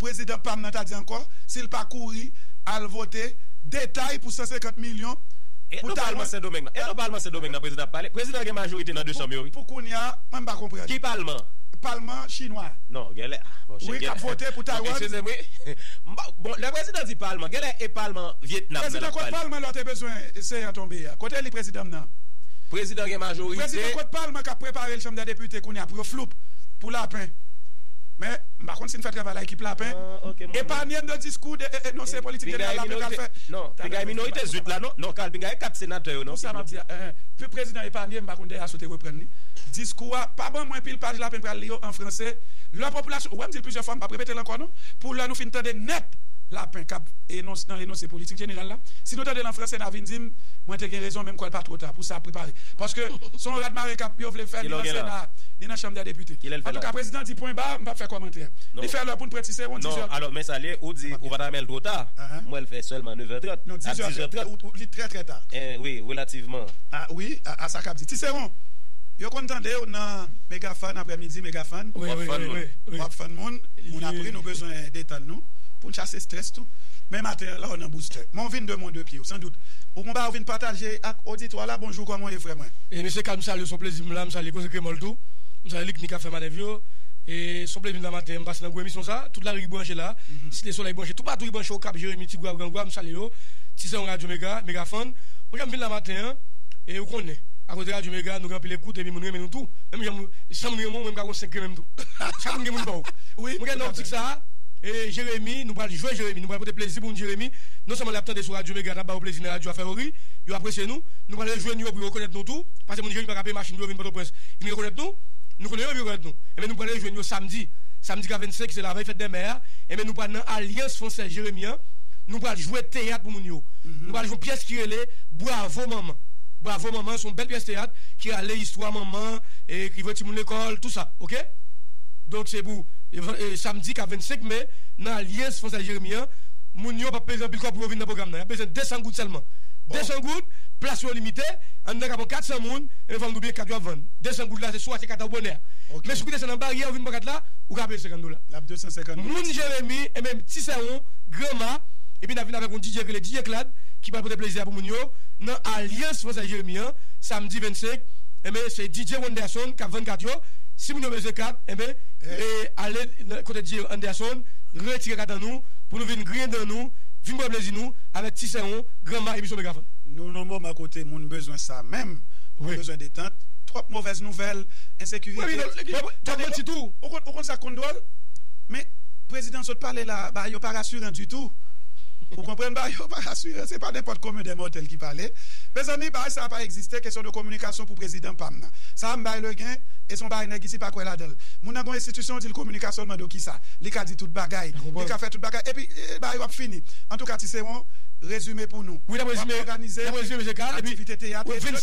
prezidan pam nan ta di ankò sil pa kouri al vote detay pou 150 milyon E nou pa alman sendomeng nan. E nou pa alman sendomeng nan prezidan ap pale. Prezidan gen majorite nan 2 chanm yo wi. Pou kounya mwen m pa konprann. Ki palman? Palman chinwa a. Non genlè ah bon chen genlè. Wi kap vote pou Taiwan. Bon eksizem wi. M pa bon lè prezidan di palman genlè e palman vietnam nan lap pale. Prezidan kot palman lè w te bezwen se an tonbe a. Kote li prezidan m nan. Prezidan gen majorite. Prezidan kot palman kap prepare l chanm dè depite kounya pou yo floup pou lapen. Men m pa konn si n fè travay la ekip lapen. Epanye n de diskou de enonse politik jeneral lapen pral fè. Pingay minorite zwit la non. Non Carl pingay e 4 senatè yo non. Konsa map di a eeh pu prezidan epanye m pa konn dèyè sou te reprann li diskou a pa ban mwen pil paj la pen pral li yo an franse lè popilasyon ou wèm dil plizyè fwa m pap repetel ankò non pou lè nou fin tande nèt la pen kap enons nan enonse politik jeneral la si nou tandel an franse na vin dim mwen te gen rezon menm kwèl pa two ta pou sa ap prepare paske son radmare kap yo vle fè ni nan sena a ni nan chanm dè depite antouka prezidan di pwen ba m pap fè kòmantè li fè lè poun pran ti seron 10 è non alò men sa liye ou di ou pa ta menl two ta. An mwèl fè sèlman 9 è 30 non 10 è 30 ou li trè trè ta en wi relativman a wi a sa kap di ti seron yo konn tandew nan mega fan aprè midi mega fan wap fan moun moun ap ri nou bezwen detann nou poun chase strès tou men maten an la ou nan boustè men ou vin de mon de pyew san dout ou gon bagay ou vin pataje ak oditwa la bonjou kòman ou ye frè mwen. E mesye kal m salye w son plezi m la m salye koze kremòl tou m salye likmi kap fè manèv yo e son plezi m la maten an m pase nan gwo emisyon sa tout lari ki branche la site solèy branche. Toupatou ki branche Okap, Jeremi, Tigwav, Grangwav, m salye yo. Ti sè m Radyo Mega, Mega Fan. Bon jan m vin la maten an, e ou konnen, akoz de Radyo Mega, nou gen anpil ekout epi moun renmen nou tou. Menm jan moun, san moun renmen w, mwen m ka gon 5 renmen m tou. Chak moun gen moun pa w. Mwen gen nan optik sa a, e Jeremi, nou pral jwe Jeremi, nou pral pote plezi pou moun Jeremi. Non sèlman y ap tande sou Radyo Mega, n ap ba yo plezi nan radyo a fè yo ri, yo apresye nou. Nou pral rejwe nou yo pou yo rekonèt nou tou. Pase moun Jeremi pa ka peye machin pou yo vin Pòtoprens, vin rekonèt nou. Nou konnen yo epi yo rekonèt nou. Enben nou pral rejwe nou yo samdi. Samdi ka 25 ki se lavèy fèt dèmè a. Enben nou pral nan Alyans Fransèz Jeremi an, nou pral jwe teyat pou moun yo. Nou pral jwe yon pyès ki rele Bwavo Manman. Bwavo Manman an se yon bèl pyès teyat ki rale istwa manman, ki voye timoun lekòl, tou sa. Oke? Donk se pou samdi k ap 25 me nan Alyans Fransèz Jeremi an. Moun yo p ap peze anpil kòb pou yo vin nan pwogram nan. Y ap bezwen 200 goud sèlman. 200 goud, plas yo limite. An nou ka pran 400 moun, enben fò m di w biyè kat yo ap vann. 200 goud la se sou a se kat la ou bonè a. Men si w desann nan baryè ou vin pran kat la, ou ka peye 50 dola. Moun Jeremi e menm ti sè ou Granma epi nap vin avèk yon DJ yo rele DJ Clad ki pral pote plezi a pou moun yo nan alyans fransèz Jeremi an samdi 25 enben se DJ Wanderson kap vann kat yo si moun yo bezwen kat enben ale kote DJ Wanderson retire kat an nou pou nou vin griyen dan nou vin pran plezi nou avèk ti sè ou Granma emisyon Megafon. Nou nan moman kote moun bezwen sa menm moun bezwen detant twòp movèz nouvèl ensekirite. Wap manti tou. dwòl men prezidan sot pale la bagay yo pa rasiran ditou ou konprann bagay yo pa rasiran se pa nenpòt komen dè mòtèl ki pale mezanmi bagay sa pa egziste kesyon de kominikasyon pou prezidan pam nan sa m bay legen e son bagay nèg isi pa kwè ladanl moun nan gon enstitisyon ou dil kominikasyon l mande w kisa li ka di tout bagay li ka fè tout bagay epi bagay yo ap fini antouka ti se yon rezime pou nou w ap òganize aktivite teyat epi lòt.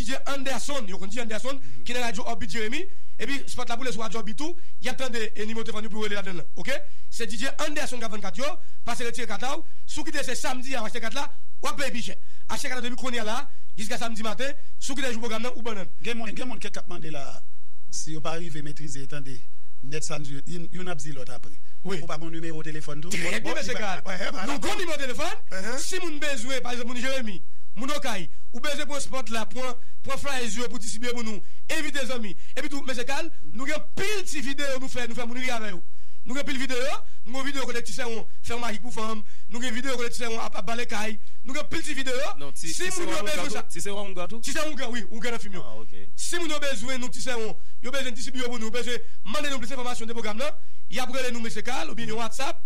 Dije Anderson, yo konn Dije Anderson, ki nan radyo Òbit Jeremi, epi spòt la boule sou radyo Òbit tou, y ap tande e nimewo telefòn yo pou yo rele ladan l lan, ok? Se Dije Anderson k ap vann kat yo, pase retire kat la w, si w kite se samdi a w achte kat la, w ap peye pi chè. Achte kat la depi kounye a la a, jiska samdi maten, si w kite jou pwogram nan, ou bannan. Gen moun, gen moun kèk k ap mande la a, si yo pa rive metrize, tande, nèt sa m di yo, youn ap di lòt apre. Ou pa gon nimewo telefòn tou? Trè byen, Mesye Gaal. Nou gon nimewo telefòn, si moun bezwen, pa egzanp moun Jeremi, moun Okay, ou bezwen pran sport la pran pran flyers yo pou distribye pou nou envite zanmi epi tou mesye kal nou gen pil ti video nou fè nou fè moun ri avè yo nou gen pil video nou gen yon video kote ti sèwon fè yon majik pou fanm nou gen video kote ti sèwon ap ap bale kay nou gen pil ti video si moun yo bezwen sa ti sèwon ougan tou ti sèwon ougan wi ougan nan film yo si moun yo bezwen nou ti sèwon yo bezwen distribye yo pou nou bezwen mande nou plis enfòmasyon de pwogram nan yap rele nou mesye kal oubyen yon whatsapp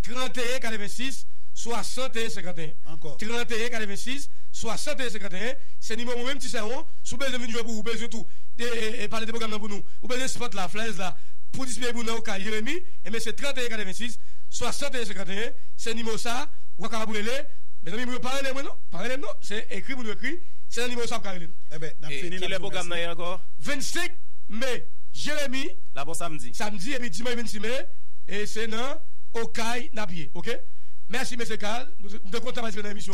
31 86 61 51 31 86. 61 51 se nimewo mwen menm ti sè on sou bezwen vin jwe pou ou bezwen tou e pale de pwogram nan pou nou ou bezwen spot la flyers la pou dispeye pou nan okay jeremi enben se 31 86 61 51 se nimewo sa wap kapab rele mezanmi moun yo pa rele mwen non pa rele m non se ekri pou nou ekri se nan nimewo sa wap ka rele nou enben nap fini kilè pwogram nan ye ankò 25 me jeremi lap on samdi samdi epi dimanch 26 me e se nan okay nap ye ok mèsi mesye kal m te kontan patisipe nan emisyon an.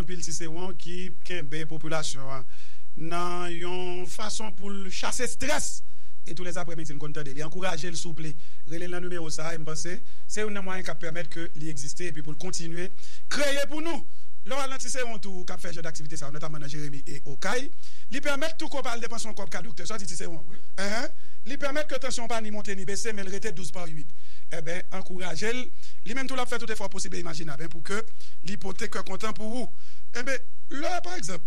Anpil Siseron ki kenbe popilasyon an nan yon fason pou l chase strès e tou lè aprè midi n konn tande li ankouraje l souple rele l nan nimewo sa e m panse se youn nan mwayen k ap pèmèt ke li egziste epi pou l kontinye kreye pou nou lè w al nan ti seron tou k ap fè jan daktivite sa yo notamman nan jeremi e okay li pèmèt tou ke w pa al depanse yon kòb ka doktè sa w di ti seron ehe li pèmèt ke tansyon w pa ni monte ni bese men l rete douz pa uit enben ankouraje l li menm tou l ap fè tout efò posib e imajinab en pou ke li pote. kontan pou ou enben lè pa egzanp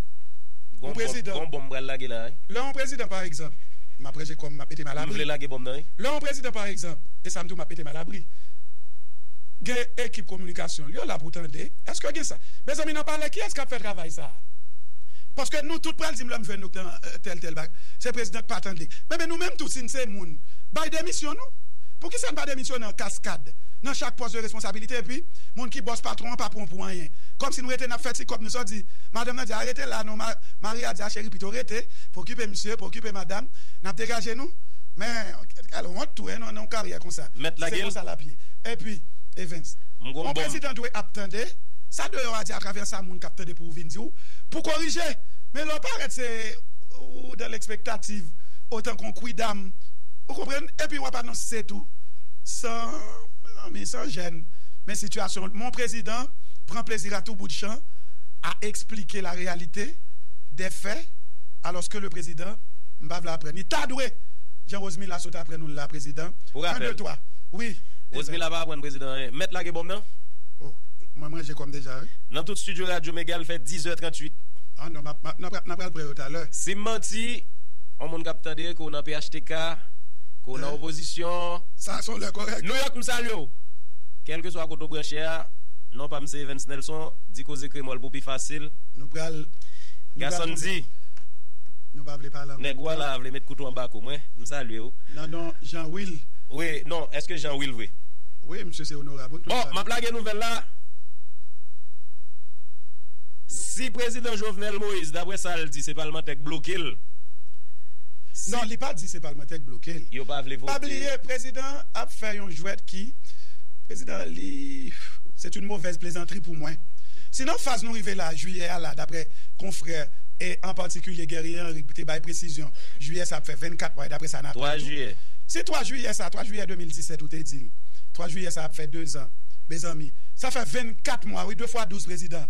yon prezidan Gon bonm pral lage la wi. Lè yon prezidan pa egzanp map ranje kòm map mete m alabri M vle lage bonm nan wi. Lè yon prezidan pa egzanp e sa m di w map mete m alabri gen ekip kominikasyon l yo la pou tande èske gen sa mezanmi nan palè kiyès kap fè travay sa paske nou tout pral di m lè m jwenn nou nan tèl tèl bagay se prezidan k pa tande enben nou menm tou si n se moun bay demisyon nou poukisa n pa demisyone an kaskad nan chak pòs de responsabilite epi moun ki bòs patwon an pa bon pou anyen kòmsi nou rete nap fè ti kòb nou sòdi madanm nan di a rete la non mari a di a cheri pito rete pou okipe misye pou okipe madam nap degaje nou men gade wont tou nan yon karyè konsa si se konsa lap ye epi Evens yon prezidan dwe ap tande sa deyò a di atravè sa moun kap tande pou vin di ou pou korije men lè w parèt se ou dan lekspektativ ou tankou yon kwidam ou konprann epi wap anonse tou san mezanmi san jèn men sitiyasyon Mon prezidan pran plezi a tou bout jan a esplike la reyalite dè fè alòske le prezidan m pa vle aprann ni ta dwe jan Rosemila sot aprann nou l la prezidan Pou kan rapèl, de twa wi evè. Rosemila pa aprann prezidan anyen. Mèt lage bonm nan. Oh mwen manje kòm deja wi. Nan tout studio radyo mega l fè 10 è 38. Ah non map map nan nan pral pran yo talè. Sim manti on moun kap tande ke w nan phtk ke w nan opozisyon Sa son lè korèk. Nouyòk m salye w. Kèlkeswa kote w branche a, non pa m se Evens Nelson, di koze kremòl pou pi fasil. Nou pral. Gasonn di. Nou pa vle pale an menm tan. Nèg wa la a vle met kouto anba kou mwen. M salye w. Nan non Jean Wil. Wi, non, èske Jean Wil vre? Wi, msye se onorab. Ou tout sa. Bon, m ap lage nouvèl la. Si prezidan Jovenel Moïse, daprè sa l di, se palmantè k bloke l. Non, li pa di se palmantè k bloke l. Yo pa vle vote. Pa bliye, prezidan an ap fè yon jwèt ki. Prezidan li c'est une mauvaise plaisanterie pou mwen. Si nan faz nou rive la, jiyè a la, daprè konfrè e an patikilye Guerrier Henri k te bay presizyon, jiyè sa ap fè 24 mwa e daprè sa n aprann tou, si 3 jiyè sa, 3 jiyè 2017 ou te di l, 3 jiyè sa ap fè 2 zan, mezanmi, sa fè 24 mwa wi, 2 fwa 12 prezidan,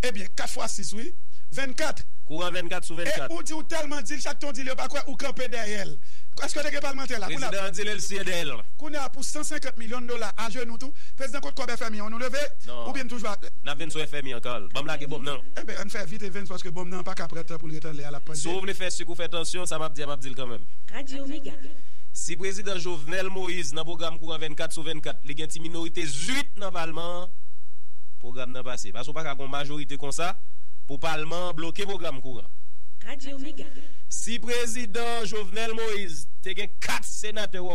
ebyen 4 fwa 6 wi, 24. Kouran 24 sou 24. E ou di ou tèlman di l chak tan w di l yo pa kwè ou kanpe dèyè l. Èske te gen palmantè la pou l ap. Prezidan an di l e l siye dèyè l. Kounye a pou 150 million dola ajenou tou prezidan kot kob FMI an nou leve oubyen n toujou atè. Nap vin sou FMI ankò al. Banm lage bonm nan. Enben ann fè vit Evens paske bonm nan paka pran tan poul ret anlè a lap pandye. Si w vle fè suk ou fè tansyon, sa m ap di a m ap di l kanmenm. Radio Mega. Si prezidan Jovenel Moise nan pwogram kouran 24 sou 24 li gen ti minorite zuit nan palman an pwogram nan pase paske w pa ka gon majorite konsa pou palman an bloke pwogram kouran. Radio Mega. Si prezidan Jovenel Moise te gen 4 senatè w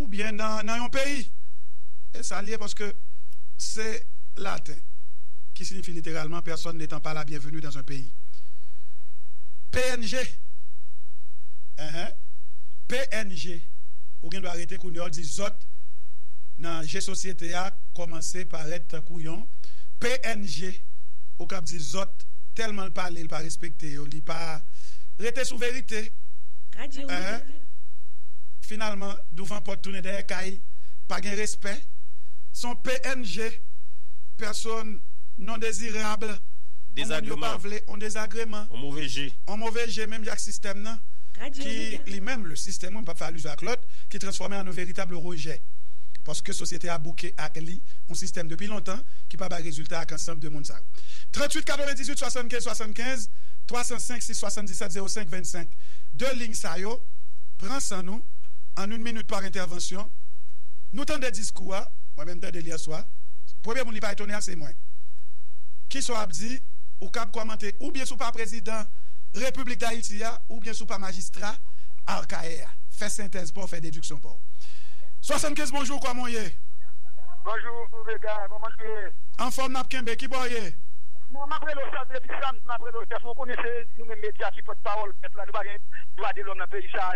Oubyen nan yon peyi. E sa l ye paske se laten ki sinifi literalman Personne n'etant pas la bienvenue dans un pays. Png, Enh, png, ou gen dwa rete kounye a w di zòt nan je sosyete a kòmanse parèt tankou yon png ou k ap di zòt tèlman l pale l pa respekte yo li pa rete sou verite. Enh, finalman. an douvan pòt tounen dèyè kay pa gen respè son pnh pèson non dezirab on moun yo pa vle on dezagreman on move je on move je menm jan ak sistèm nan ki li menm le système wi m pap fè alizyon ak lòt ki transfòme an on veritab rejè paske sosyete a bouke ak li on sistèm depi lontan ki pa bay rezilta ak ansanb de moun sa yo 38 98 75 75 305 6 77 05 25 de lign sa yo pran san. diskou an yn minut par entèvansyon nou tande diskou a mwen menm tandel yè swa premye moun li pa etone a se mwen kisa w ap di ou kab kòmante oubyen si w pa prezidan repiblik dayiti a oubyen si w pa majistra arkaye a fè sentèz pa w fè dediksyon pa w 75 bonjou kòman w ye. Bonjou Vega kòman nou ye. Anfòm nap kenbe kibò w ye. Mwen map rele w Sam depi Sam map rele w Jeff mwen konnen se nou menm medya ki pòt pawòl pèp la nou pa gen dwa de lòm nan peyi sa.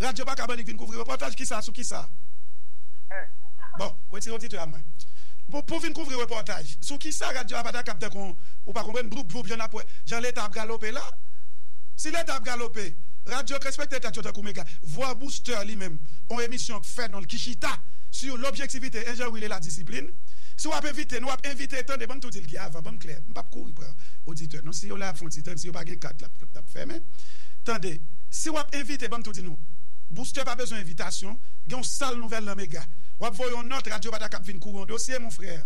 Radyo Baka Bann li k vin kouvri repòtaj kisa sou kisa? Bon, wetire oditè a mwen. Pou vin kouvri repòtaj sou kisa radyo a pa ta kab tankou yon ou pa konprann bloup bloup jan n ap wè jan leta ap galope la? Si leta ap galope, radyo k respekte tèt yo tankou mega vwa Booster li menm yon emisyon k fè non l ki chita sou lobjektivite enjewil e ladisiplin. Si w ap envite n w ap envite tande ban m tou di l ki avan ban m klè m p ap kouri pran oditè non si yo la y ap fè yon ti tann si yo pa gen kat l ap fèmen tande. Si wap envite banm tou di nou Booster pa bezwen envitasyon gen yon sal nouvèl nan mega wap voye yon nòt radyo pata kap vin kouri yon dosye mon frère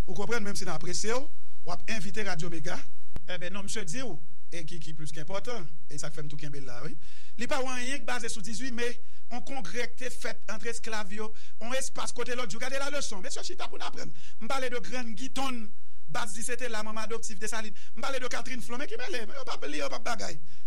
ou konprann menm si nan apresyew wap envite radyo mega Enben non misye diw e ki ki plis enpòtan e sak fèm tou kenbe la wi li pa ou anyen ki baze sou 18 me yon kongrè ki te fèt antre esklav yo yon espas kote lòt jou gade la leson mesye chita poun aprann m pale de grann gitonn baz li se te la manman adoptif Dessalines m pale de Catherine Flon men ki mele yo pap li yo pap bagay.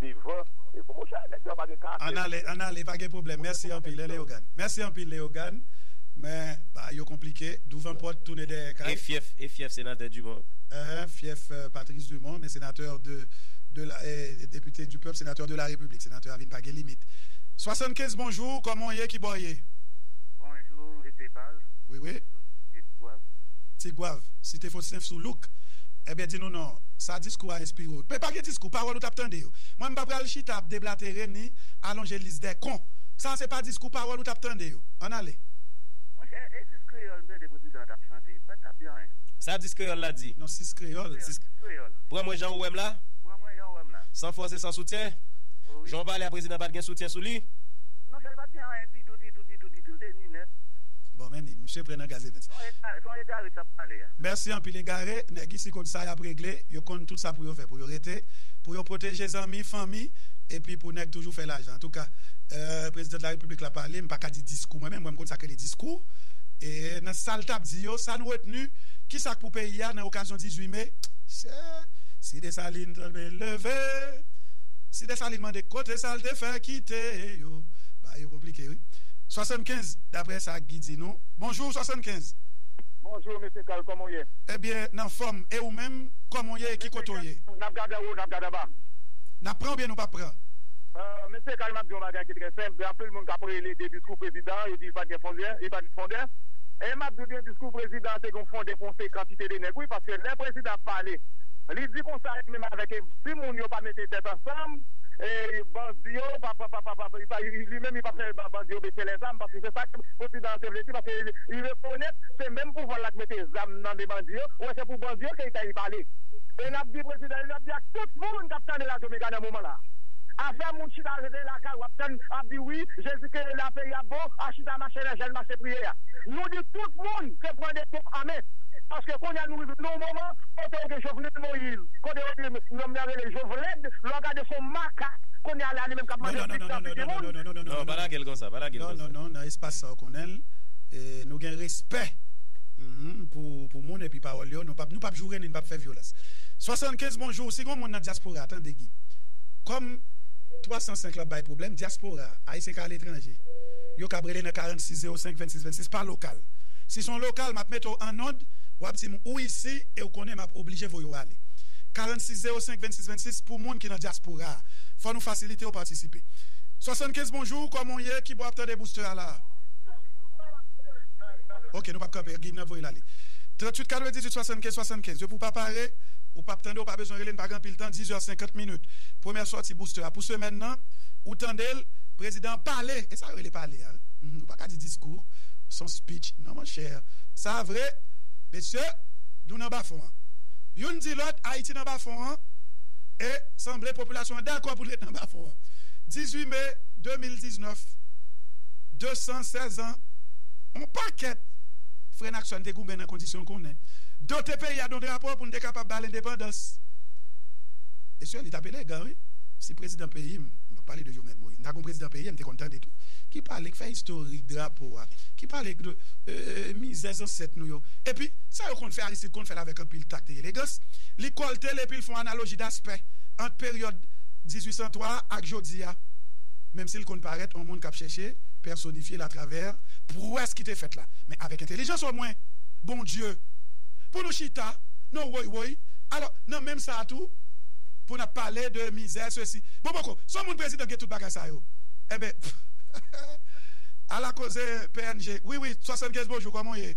devan e bon monchè nèg sa yo pa gen karaktè Ann ale ann ale pa gen pwoblèm mèsi anpil e Leogane mèsi anpil Leogane men bagay yo konplike douvan pòt tounen dèyè kay. E fyèf e fyèf senatè Dumont. Eeh fyèf Patrice Dumont men senatè de de la eeh depite du pèp senatè de la repiblik senatè a vin pa gen limit 75 bonjou kòman w ye kibò w ye. Bonjou mesye Carl wi wi sou site tigwav. Tigwav site fosnèf sou louk ebyen di nou non sa diskou a enspire w men pa gen diskou. ou pawòl ou tap tande yo. Mwen m pa pral chita ap deblatere ni alonje lis dè kon. Sa se pa diskou pawòl ou tap tande yo. Ann ale. Monchè, e sis kreyòl m tande prezidan an tap chante? M pa t tap di anyen. Sa sis kreyòl la di? Non, sis kreyòl. Sis kreyòl. Pran mwen jan ou wè m la. Pran mwen jan ou wè m la. San fòs e san soutyen. Wi. Jan w pale a prezidan pa t gen soutyen sou li? Non sè l pa t gen anyen ditou, ditou, ditou, ditou. L te ni nèt. Bon men ni. Msye pran nan gaz evens. Son egare, son egare k tap pale a. Mèsi anpil egare. Nèg isi konn sa yap regle. Yo konn tout sa pou yo fè. Pou yo rete, pou yo pwoteje zanmi, fanmi, epi pou nèg toujou fè lajan. Antouka, President la Repiblik la pale, m pa ka di diskou mwen menm, mwen m konn sa k rele diskou. E nan sa l t ap di yo, sa n retni, ki sa k pou peyi a nan okazyon 18 me? Se, Si Desalin tonbe leve, si Desalin mande kote sa l te fè kite yo? Bagay yo konplike wi. 75, daprè sa Guy di nou. Bonjou 75! Bonjou Mesye Carl, kòman w ye? Ebyen, n anfòm, e ou menm? Kòman w. Koman w ye e ki kote w ye? Mesye Kay, n ap gad anwo, n ap gad anba. N ap pran oubyen nou p ap pran? Mesye Kay, m ap di yon bagay ki trè senp. Gen anpil moun k ap rele de diskou prezidan an, yo di li pa t gen fondè, li pa t gen fondè. E m ap di w byen diskou prezidan an te gen yon fondè pou yon seri kantite de nèg wi, paske lè prezidan ap pale, li di konsa li menm avèk si moun yo pa mete tèt ansanm, e bandi yo pa, pa, pa, pa, li pa, li menm li pa fè bandi yo bese lèzam, paske se sa ke prezidan an te vle di, paske li rekonèt se menm pouvwa l la ki mete zam nan men bandi yo, ou wè se pou bandi yo ke. Fèy pale. E nap di prezidan Jovenel ap di ak tout moun kap tande radyo mega nan moman la. Afè moun chita rete lakay ou ap tann ap di wi jezi kenbe la peyi ap bon a chita mache nan jèn mache priye a. Nou di tout moun se pran de pon a men. Paske kounya nou rive nan yon moman kote ou gen Jovenel Moise kote ou gen nonm nan rele Jovlèd lè w gade se yon makak kounya la li menm kap mande plis nan figi moun. Non pa lagel konsa pa lagel konsa. Non non non nan espas sa ou konnenl nou gen respè pou moun epi pawòl yo. Leo non pap nou pap joure nin pap fè vyolans 75 bonjour si gon moun nan diaspora a tande gin kòm 305 la bay problèm diaspora a ayisyen ka aletranje yo kab rele nan 46 05 26 26 pa lokal si son lokal map mete w an ond wap dim ou isi ew konnen map oblije voye w ale 46 05 26 26 pou moun ki nan diaspora a fò nou fasilite yo patisipe 75 bonjour kòman w ye kibò ap tande booster a la ok nou pap kanpe gin nap voye l ale. 38 98 75 75 Depi w pa pare, ou pap tande, ou pa bezwen rele n pa gen anpil tan 10 heures 50 minutes Premyè sòti booster a pou semèn nan Ou tande l Prezidan an pale E sa yo rele pale a wi Ou pa ka di diskou Son speech non monchè Sa vre Mesye Nou nan bafon an Youn di lòt Ayiti nan bafon an E sanble popilasyon an dakò pou l ret nan bafon an 18 me 2019 216 an On pakèt frè n ak sè sa n te goumen nan kondisyon n konnen, dote peyi a d on drapo pou n te kapab ba l endepandans. Mesye, li t ap elegan wi! Si prezidan peyi m, m p ap pale de Jovenel Moïse, m ta gen yon prezidan peyi m te konn tande tou, ki pale, k fè istorik drapo a, ki pale de mizè zansèt nou yo. Epi, sa yo konn fè, Aristide konn fè l avèk anpil takt e elegans, li kòlte l epi l fè yon analoji daspè ant peryòd 1803 a ak jodi a, menmsi l konn parèt on moun k ap chèche pèsonifye l atravè pwès ki te fèt la. Men avèk. entelijans o mwen Bondye pou nou chita non woy woy alò nan menm sa tou pou nap pale de mizè sesi bon boko son moun prezidan gen tout bagay sa yo enben pff ala koze pnh wi wi 75 bonjou kòman w ye.